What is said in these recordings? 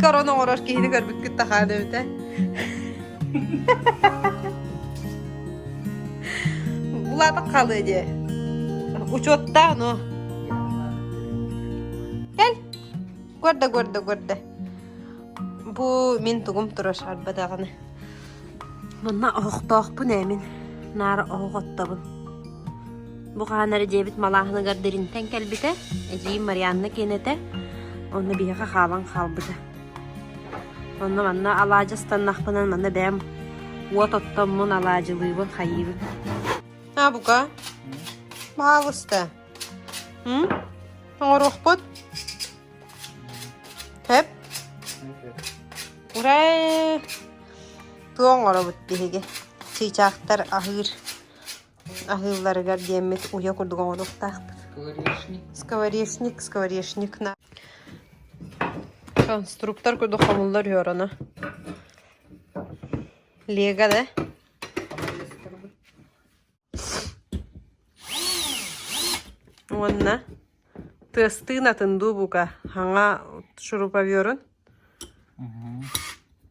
икки орон оҥорор киһини көрбүккүт тахаан эбитэ булаата халыы дии учуоттаах но кэл көрдө көрдө көрдө бу мин тугум турар шарба даҕаны манна оһохтоохпун ээмин наара оһох оттобун Бу хаһан эрэ дьиэбит малааһыныгар дириҥтэн кэлбитэ, эдьиийим Марианна киэн этэ, онно биһиэхэ хаалан хаалбыта. Онно манна алаадьы ыстаннахпына манна бэйэм уот оттоммун алаадьылыыбын, хайыыбын. А, бука, баалыста. М? Оҥоруохпут. Тэп. Урэ. Ту оҥоробут биһиги. Чыычаахтар аһыыр Аһыылларыгар диэммит уйа курдук оҥоруохтаахпыт Скворечник, скворечник на Конструктор курдук хомуллар үһүөҕэ Лего да Уонна тыастыын атын дуу бука хаҥа шуруповерун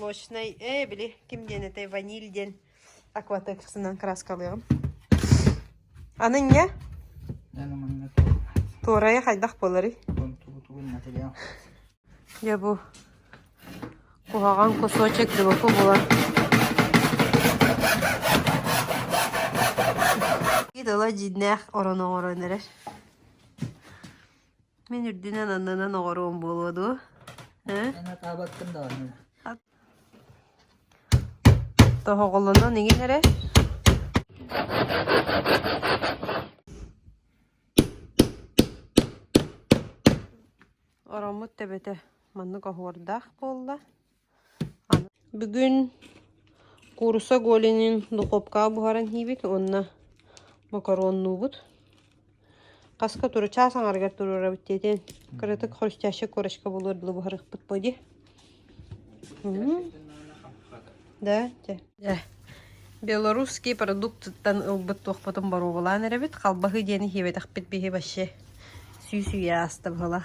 молочнай ээ били ким диэн этэй ваниль диэн акватексынан краскалыаҕым аны инньэ туорайа хайдах буоларый дьэ бу куһаҕан кусочек дыбыку булан тыла дьиҥнээх орон оҥорон эрэр Мин үрдүнэн аннынан оҕоруом буолуо дуо? Һэ? Эн атаабаккын даҕаны. Тоһоҕолонон иҥин эрэ. Ороммут тэбэтэ маннык оһуордаах буолла. Бүгүн кууруса голинын духуопкаҕа буһаран иһиибит уонна макароннуубут. Хаска туручаас аҥарыгар туруорабыт диэтин кыратык хрустящая корочка буолуор дылы буһарыахпыт буолуо дии. Да, дьэ. Дьэ. Белорусские продуктыттан ылбыт туохпутун боруобалаан эрэбит. Халбаһы диэн иһиэбэтэхпит биһи вообще сүүсүйэ ааста быһыла.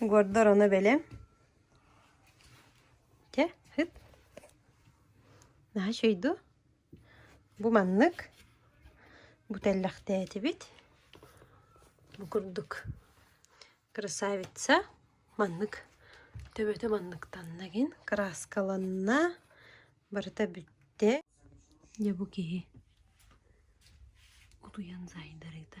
Гордор ону бэлэм. Чэ, ыт. Наһаа үчүгэй дуу? Бу маннык. Бу тэллэхтээтибит. Бу курдук. Красавица. Маннык. Төбөтө манныктанна гин. Краскаланна. Барыта бүттэ. Дьэ бу киһи утуйан заайдарыта.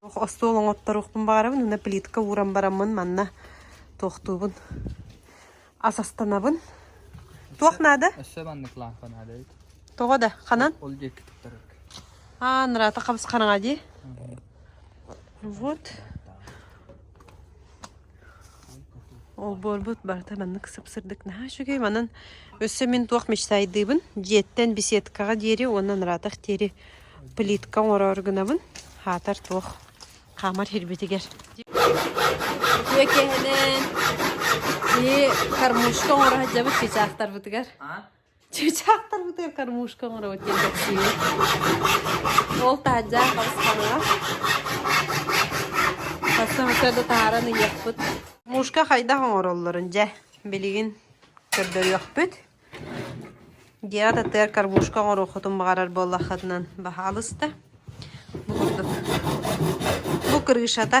Туох остуол оҥотторуохпун баҕарабын уонна плитка ууран бараммын манна туохтуубун ас астанабын. Туох наада? Өссө маннык лаампа наадайыт. Тоҕо да? Ханан? Ол диэки туттарык. Аа, нараата хабыс хараҥа дии. Вот. Олбуорбут барыта маннык сып-сырдык наһаа үчүгэй. Манан өссө мин туох мечтайдыыбын, дьиэттэн беседкаҕа диэри уонна нараатах диэри плитка оҥорор гынабын. Хаатар туох хаамар сирбитигэр. Үтүө киэһэнэн, киһи кормушка оҥоро сылдьабыт кычаахтарбытыгар. Чыычаахтар бытыгар кормушка оҥоробут кэлгэччиини. Ол таһаджаан хабыстанаҕа. Сарсыҥҥыта да таһааран ыйыахпыт. Мушка хайдах оҥороллорун дьэ билигин көрдөрүөхпүт. Гера датыгар кормушка оҥоруоххутун баҕарар буоллаххытынан баһаалыста. Бу курдук. Бу крышата.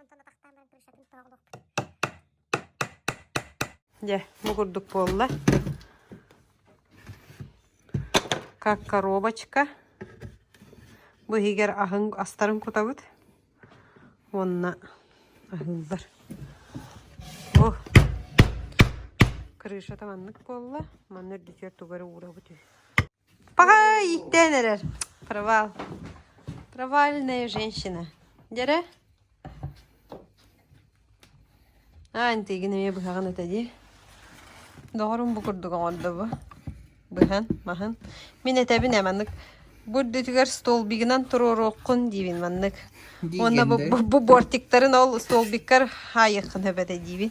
Онтон атахтаан баран планшатын тооҕолуохпут Дьэ, бу курдук буолла. Как коробочка. Бу иһигэр аһын астарын кутабыт уонна аһыыллар. О, крышата маннык буолла. Манна үрдүтүгэр тугу эрэ уурабыт үһү. Пахай! Иктээн эрэр. Провал. Провальная женщина. Дьэрэ? Аа, интигин эмиэ быһаҕын этэ дии. Доҕорум бу курдук оҥордо бу. Быһан, маһын. Мин этэбин ээ маннык. Бу үрдүтүгэр столбигынан туруоруоххун диибин маннык. Уонна бу бу бортиктарын ол столбиккар хаайыаххын сөп этэ диибин.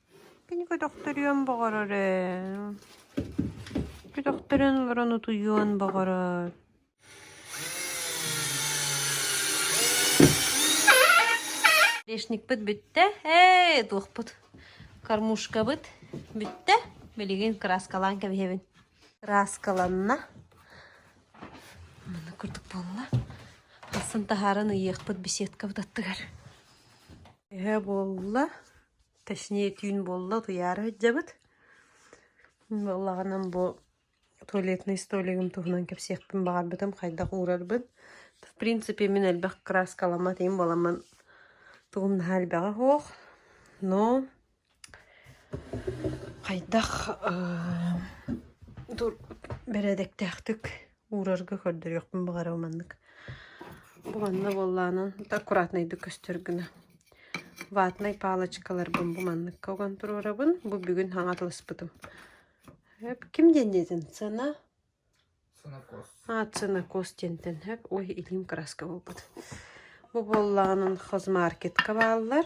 Кинигэ төхтөрүөн баҕарар ээ Көтөхтөрөн олорон утуйуон баҕарар Грешникпыт бүттэ ээ туохпут кормушкабыт бүттэ билигин кырааскалаан кэбиһэбин кырааскаланна маннык курдук буолла тахсан таһааран ыйыахпыт беседкабыт аттыгар эһэ буолла Точнее түүн буолла, утуйаары сылдьабыт. Буоллаҕынан бу туалетнай столигым туһунан кэпсиэхпин баҕарбытым, хайдах уурарбын. В принципе мин элбэх кырааскаламмат иһим буоламмын тугум наһаа элбэҕэ суох. Но хайдах бэрээдэктээхтик уурарга көрдөрүөхпүн баҕара маннык уонна буоллаанан аккуратнайдык көстөр гына ватнай палочкаларбын бу манныкка уган туруорабын бу бүгүн хаҥатыласпытым ким диэн диэтин сана ацинокос диэнтэн һэк ой илиим краска буолбут бу буоллаанын хозмаркетка бааллар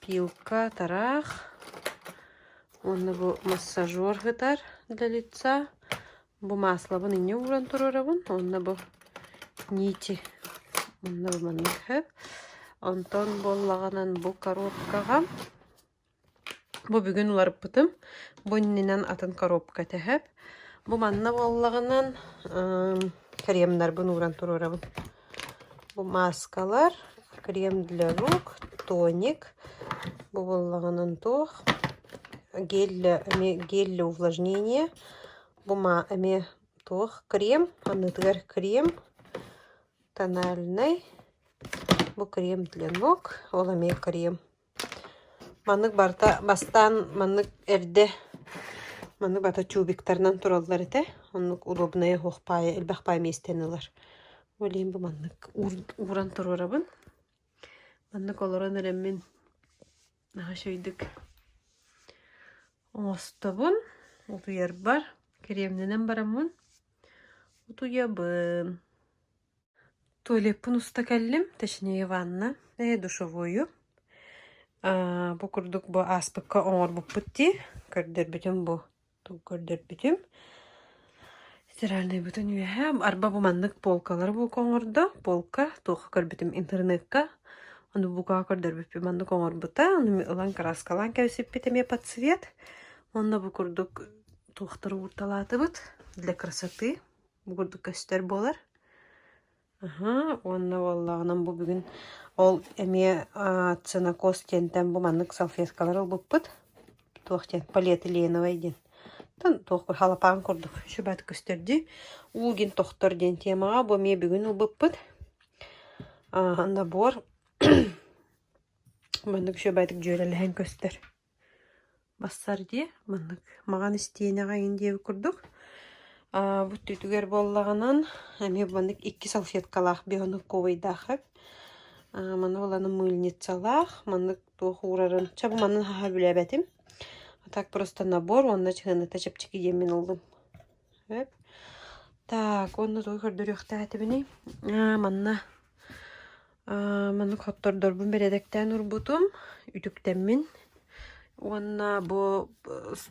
Пилка атараах уонна бу массажер ытар для лица. Бу мааслабын инньэ ууран туруорабын уонна бу нити уонна бу маннык өһөп. Онтон буоллаҕынан бу коробкаҕа бу бүгүн уларыппытым. Бу иннинэн атын коробка этэһэп. Бу манна буоллаҕынан кремнарбын ууран туруорабын. Бу мааскалар крем для рук, тоник бобуллаҕынан туох гель эмиэ гель для увлажнения бума эмиэ туох крем аннытыгар крем тональнай бу крем для ног ол эмиэ крем Маннык барыта бастаан маннык эрдэ маннык барыта чубиктарынан тураллар этэ. Оннук удобная оһох паайа элбэх паай миэстэни ылар. Ол иһин бу маннык ууран туруорабын. Маннык олорон эрэммин наһаа үчүгэйдик оҥостобун. Утуйарбар, кэриэмнэнэн бараммын утуйабын. Туалеппын уста кэллим, точнее ванна, ээ душевойу. Аа бу курдук бу ааспыкка оҥорбуппут дии, көрдөрбүтүм бу, тугу көрдөрбүтүм. Стиральнай бутун үөһэ, арба бу маннык полкалары бука оҥордо, полка, туохха көрбүтүм интернекка, ону букаҕа көрдөрбүппүт маннык оҥорбута, ону ылан кырааскалаан кэбисиппит эмиэ подсвет, онно бу курдук туохтары уурталаатыбыт для красоты. Бу курдук көстөр буолар. Аһа, уонна буоллаҕынан бу бүгүн ол эмиэ цианокос диэнтэн бу маннык салфеткалар ылбыппыт. Туох диэн, полиэтиленовай диэн. Тан туох халапаан курдук шүбат көстөрдүү. Улгин тохтор диэн темаҕа бу эмиэ бүгүн ылбыппыт. Набор маннык шүбэтик дьүөрэлэһэн көстөр. Барсар дии, маннык маҕан истиэнэҕэ иҥин диэбит курдук. бу өттүгэр буоллаҕынан, эмиэ маннык икки салфеткалаах бионуковайдаах эбит. маны булан мыльницалаах, маннык туох уурарын чэ бу манан хаһа билэбэтим. А так просто набор уонна чыһыныта чэпчэки диэн мин ыллым. Эп. Так, уонна тугу көрдөрүөхтээтибиний? манна Маннык хоттордорбун бэрэдэктээн урбутум, үтүктэммин уонна бу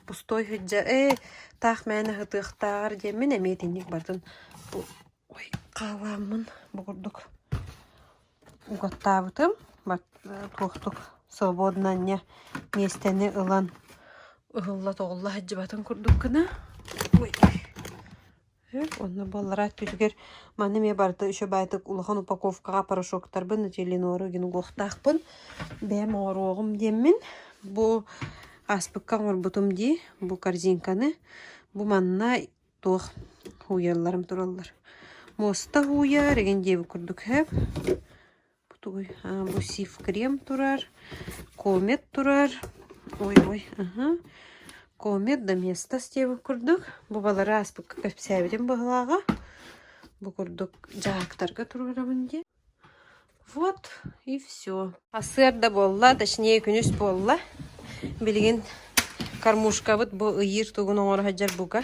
пустой сыдьа ээ таах мээнэ сытыахтааҕар диэммин эмиэ итинник барытын ой хаалааммын бу курдук угаттаабытым туохтук свободнанье миэстэни ылан ыһылла-тоҕулла сылдьыбатын курдук гына ой Онно буоллара өттүтүгэр маны эмиэ барыта үчүгэй баайдык улахан упаковкаҕа порошоктарбын Нателлинору гин угуохтаахпын бэйэм оҥоруоҕум диэммин бу ааспыкка оҥорбутум дии бу корзинканы бу манна туох ууйалларым тураллар муоста ууйа регендиевый курдук иһэ Тугуй? А, бу сиф-крем турар, комет турар. Ой-ой, аха. Комет да местос диэбит курдук. Бу балары ааспыкка кэпсээбитим быһылааҕа. Бу курдук дьаактарга туруорабын дии. Вот и все. Сыр да буолла, точнее күнүс буолла. Билигин кормушкабыт бу ыйыыр тугун оҥоро сылдьар бука.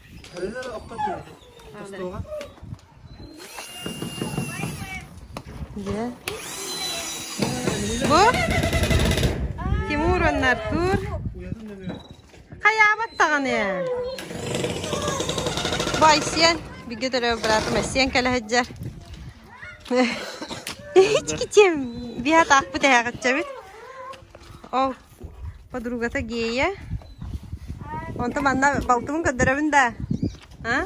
Дьэ. Бу Тимур уонна Артур хайаабат даҕаны бай сиэн бигэ төлөө братым сиэн кэлэһэджэр ички тем биһат аахпыт эһэҕитчэбит ол Подругата гея. Онто манна балтымын көрдөрөбүн да. А?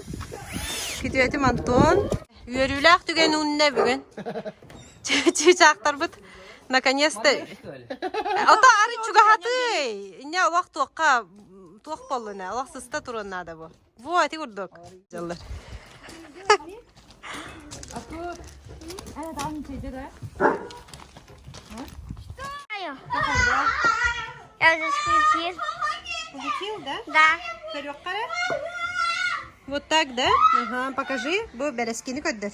Күтүөтүм Антон. Үөрүүлээх түгэн үннэ бүгүн. Чыычаактарбыт наконец-то Ото ары чугаһатый. Инне олох туохка туох боллуна. Олох сыста турун наада бу. Во, ити курдук. Дьаллар. Я засветил. Включил, да? Да. Вот так, да? Ага, покажи, бу бэрэскини көрдөр.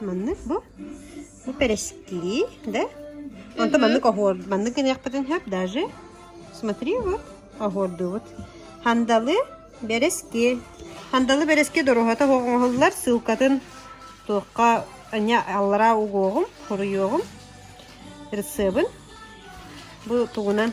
Маннык бу. Бу перескри, да? Онто маннык оһуор, маннык гыныахпытын хап даже. Смотри, вот, оһуорду вот. Хандалы берески. Хандалы берески доруһата оҥоһуллар ссылкатын туохха anya аллараа угуоҕум, хоруйуоҕум, рецебин. Бу тугунан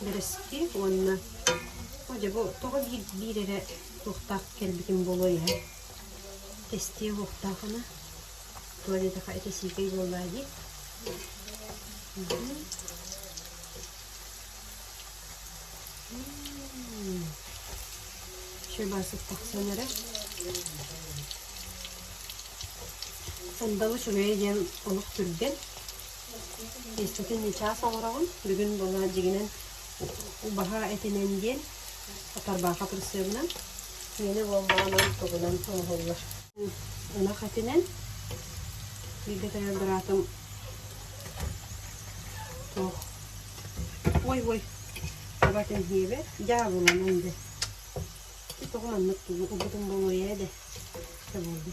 Бэрэски уонна Оо дьэ бу тоҕо биир биир эрэ туохтаах кэлбитим буолуой ээ. Кэстиэ уохтаахына туох диэтэхэ ити сиикэй буоллаа дии. Мм. Мм. Чебасык тахсан эрэ. Сандалы чугэй диэн олох түргэн. Иччитин чаас оҥороҕун, бүгүн була дьигинэн баһа этинэн диэн тарбаха прицебынан миэли болмоонон тугунан оҥоһуллар. Ынах этинэн бииргэтэрэр быраатым туох ой ой табатын хиэбэт дьаабыланан дэ тоҕо маннык ылбытым болуйа да болду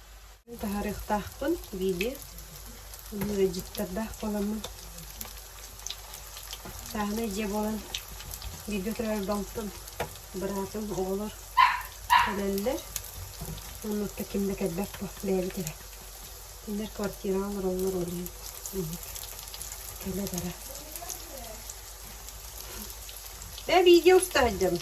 Таһарыахтаахпын биилиэ, ыалдьыттардаах буоламмын. Сааһынай дьиэ буолан бииргэ турар балтым, быраатым, оҕолор кэлэллэр. Оннуттан ким да кэлбэт дуо, бэйэбит эрэ. Кинилэр квартираҕа олороллор ол иһин инник кэлэ-бара. Бээ бииргэ устаа сылдьабын.